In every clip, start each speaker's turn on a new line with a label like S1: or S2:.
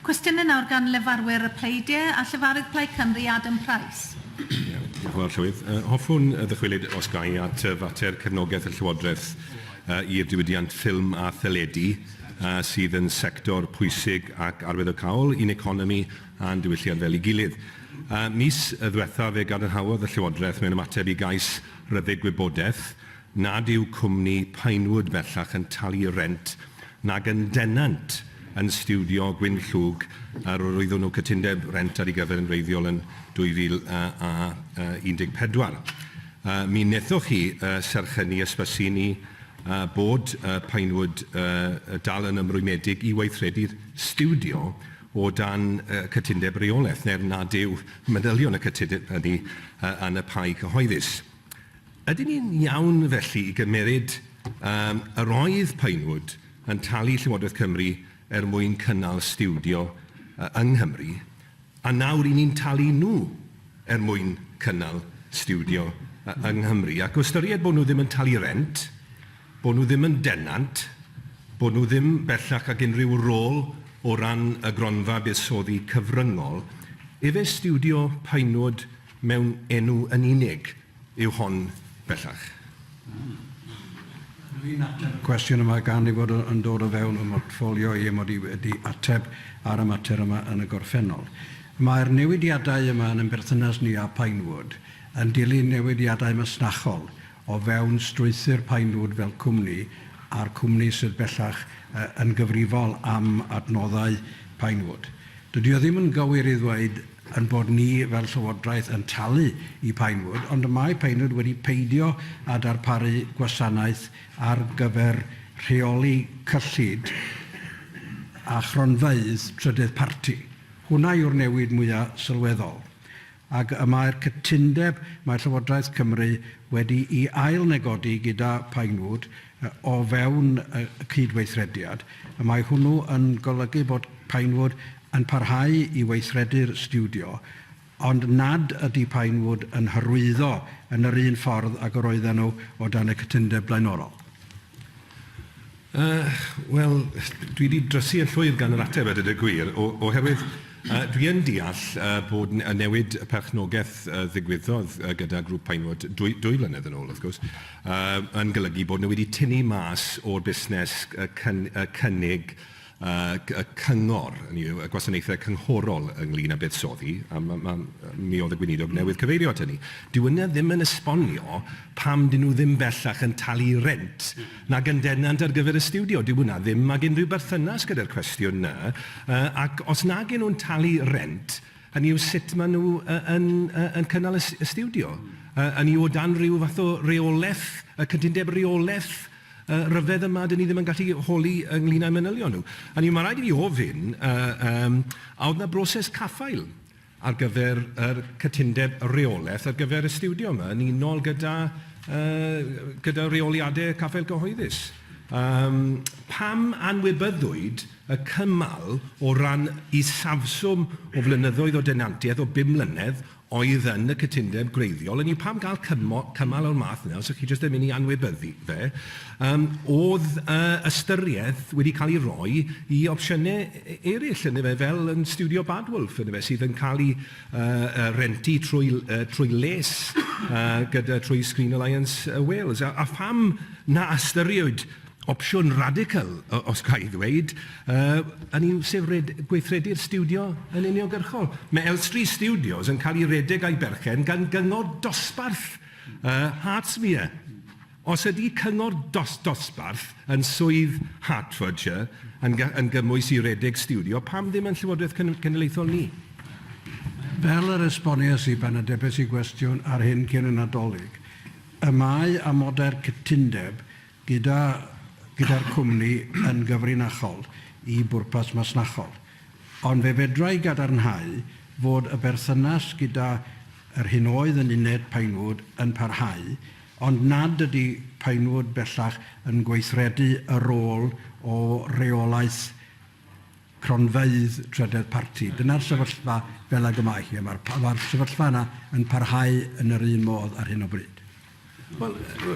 S1: Cwestiynau nawr gan lefarwyr y pleidie a llefarydd Plaid Cymru, Adam Price. Ie, diolch yn fawr,
S2: Llywydd. Yy, hoffwn ddychwelyd, os ga i, at fater cefnogaeth y Llywodraeth yy i'r diwydiant ffilm a theledu, yy sydd yn sector pwysig ac arwyddocaol i'n economi a'n diwylliant fel ei gilydd. Yy, mis ddiwethaf fe gadarnhaodd y Llywodraeth mewn ymateb i gais ryddid gwybodaeth, nad yw cwmni Pinewood bellach yn talu rent nag yn denant yn stiwdio Gwyn Llwg a roeddwn nhw cytundeb rent ar ei gyfer yn wreiddiol yn 2014. Mi wnaethoch chi serch hynny, ysbysu ni bod Pinewood dal yn ymrwymedig i weithredu'r stiwdio o dan cytundeb reolaeth neu'r nad yw manylion y cytundeb hynny yn y pai cyhoeddus. Ydyn ni'n iawn felly i gymeryd am yr oedd Pinewood yn talu Llywodraeth Cymru er mwyn cynnal stiwdio yng Nghymru, a nawr 'y ni'n talu nhw er mwyn cynnal stiwdio yng Nghymru, ac o ystyried bod nhw ddim yn talu rent, bod nhw ddim yn denant, bod nhw ddim bellach ag unrhyw rôl o ran y gronfa buddsoddi cyfryngol, efe stiwdio Pinewood mewn enw yn unig? yw hon bellach. Yr
S3: un ateb y cwestiwn yma gan ei fod yn dod o fewn fy mhortffolio i mod i wedi ateb ar y mater yma yn y gorffennol. Mae'r newidiadau yma yn ein berthynas ni â Pinewood yn dilyn newidiadau masnachol o fewn strwythur Pinewood fel cwmni a'r cwmni sydd bellach yn gyfrifol am adnoddau Pinewood. Dydy o ddim yn gywir i ddweud ein bod ni fel Llywodraeth yn talu i Pinewood, ond y mae Pinewood wedi peidio â darparu gwasanaeth ar gyfer rheoli cyllid a chronfeydd trydydd parti. Hwnna yw'r newid mwya' sylweddol. Ac y mae'r cytundeb mae Llywodraeth Cymru wedi'i ail-negodi gyda Pinewood o fewn y cyd-weithrediad, y mae hwnnw yn golygu bod Pinewood yn parhau i weithredu'r stiwdio, ond nad ydy Pinewood yn hyrwyddo yn yr un ffordd ag yr oedden nhw o dan y cytundeb blaenorol.
S2: Yy, wel, dwi 'di drysu yn llwyr gan yr ateb a dweud y gwir, o- oherwydd yy dwi yn deall yy bod n- y newid perchnogaeth yy ddigwyddodd yy gyda grŵp Pinewood dwy dwy flynedd yn ôl, wrth gwrs, yn golygu bod nhw wedi tynnu mas o'r busnes y cynnig y cyngor, hynny yw, y gwasanaethau cynghorol ynglŷn â buddsoddi, a mi oedd y Gweinidog newydd cyfeirio at hynny. Dyw hynna ddim yn esbonio pam 'dyn nhw ddim bellach yn talu rent nag yn denant ar gyfer y stiwdio. Dyw hwnna ddim ag unrhyw berthynas gyda'r cwestiwn 'na, ac os nag 'yn nhw'n talu rent, Hynny yw sut maen nhw yn cynnal y stiwdio? Hynny yw o dan ryw fath o reolaeth, y cytundeb reolaeth ryfedd yma, dan ni ddim yn gallu holi ynglŷn â'u manylion nhw. Hynny yw, mae'n rhaid i fi ofyn, a oedd 'na broses caffael ar gyfer yr cytundeb reolaeth ar gyfer y stiwdio yma yn unol gyda rheoliadau caffael cyhoeddus? Pam anwybyddwyd y cymal o ran isafswm o flynyddoedd o denantiaeth o bum mlynedd oedd yn y cytundeb gwreiddiol, hynny yw pam gael cymo- cymal o'r math yna os ydych chi jyst yn mynd i anwybyddu fe, yym oedd yy ystyriaeth wedi cael ei roi i opsiynau e- eraill ynde fe, fel yn Stiwdio Bad Wolf ynde fe, sydd yn cael ei yy rentu trwy l- yy trwy les yy gyda trwy Screen Alliance yy Wales a a pham na ystyriwyd Opsiwn radical, os ga i ddweud, hynny yw sef gweithredu'r stiwdio yn uniongyrchol. Mae Elstree Studios yn cael ei redeg a'i berchen gan gyngor dosbarth Hertsmere. Os ydy cyngor dosbarth yn swydd Hertfordshire yn gymwys i redeg stiwdio, pam ddim yn Llywodraeth Cenedlaethol ni?
S3: Fel yr esboniais i pan atebais i gwestiwn ar hyn cyn y Nadolig, y mae amodau'r cytundeb gyda gyda'r cwmni yn gyfrinachol i bwrpas masnachol, ond fe fedra i gadarnhau fod y berthynas gyda yr hyn oedd yn uned Pinewood yn parhau, ond nad ydy Pinewood bellach yn gweithredu y rôl o reolaeth cronfeydd trydedd parti. Dyna'r sefyllfa fel ag y mae hi, a mae'r pa- mae'r sefyllfa yna yn parhau yn yr un modd ar hyn o bryd. Wel,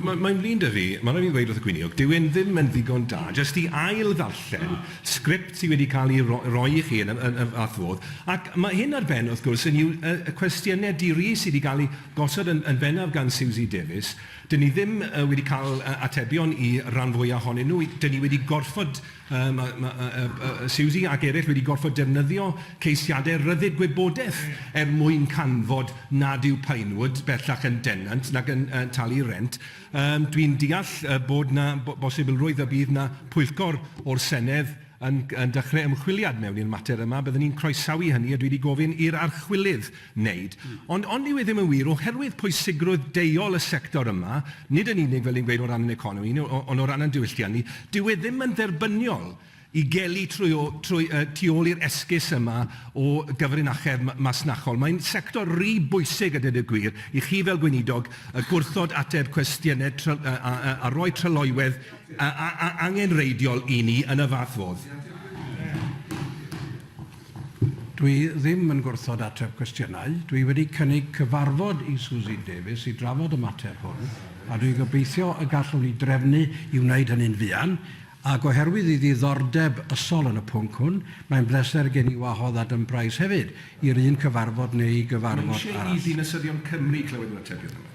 S2: mae- mae'n flin 'da fi, mae'n rhaid i mi ddweud wrth y Gweiniog, dyw e'n ddim yn ddigon da jyst i ail-ddarllen sgript sydd wedi cael ei ro- roi i chi yn y yn y fath fodd, ac mae hyn ar ben, wrth gwrs, hynny yw, y y cwestiynau di-ri sydd wedi cael eu gosod yn yn bennaf gan Siwsi Davies, 'dyn ni ddim yy wedi cael yy atebion i ran fwyaf ohonyn nhw, 'dyn ni wedi gorfod Yy ma' ma' yy yy yy yy Siwsi ac eraill wedi gorfod defnyddio ceisiadau rhyddid gwybodaeth er mwyn canfod nad yw Pinewood bellach yn denant nac yn yy talu rhent. Yym dwi'n deall yy bod 'na bo- bosibilrwydd y bydd 'na pwyllgor o'r Senedd yn yn dechrau ymchwiliad mewn i'r mater yma. Bydden i'n croesawu hynny a dwi 'di gofyn i'r archwilydd wneud. Ond ond dyw e ddim yn wir oherwydd pwysigrwydd deuol y sector yma, nid yn unig fel ni'n gweud o ran ein economi ni o- ond o ran ein diwylliant ni, dyw e ddim yn dderbyniol i gelu trwy o- trwy yy tu ôl i'r esgus yma o gyfrinachedd ma- masnachol. Mae'n sector ry bwysig a dweud y gwir i chi fel Gweinidog yy gwrthod ateb cwestiynau try- yy a a a rhoi tryloywedd a a a angenrheidiol i ni yn y fath fodd.
S3: Dw i ddim yn gwrthod ateb cwestiynau. Dw i wedi cynnig cyfarfod i Suzy Davies i drafod y mater hwn, a dw i'n gobeithio y gallwn ni drefnu i wneud hynny'n fuan, ac oherwydd ei ddiddordeb ysol yn y pwnc hwn, mae'n bleser gen i wahodd Adam Price hefyd i'r
S2: un cyfarfod neu gyfarfod
S3: arall. Mae
S2: eisiau i ddinasyddion Cymru
S3: glywed
S2: yr
S3: atebion
S2: yma.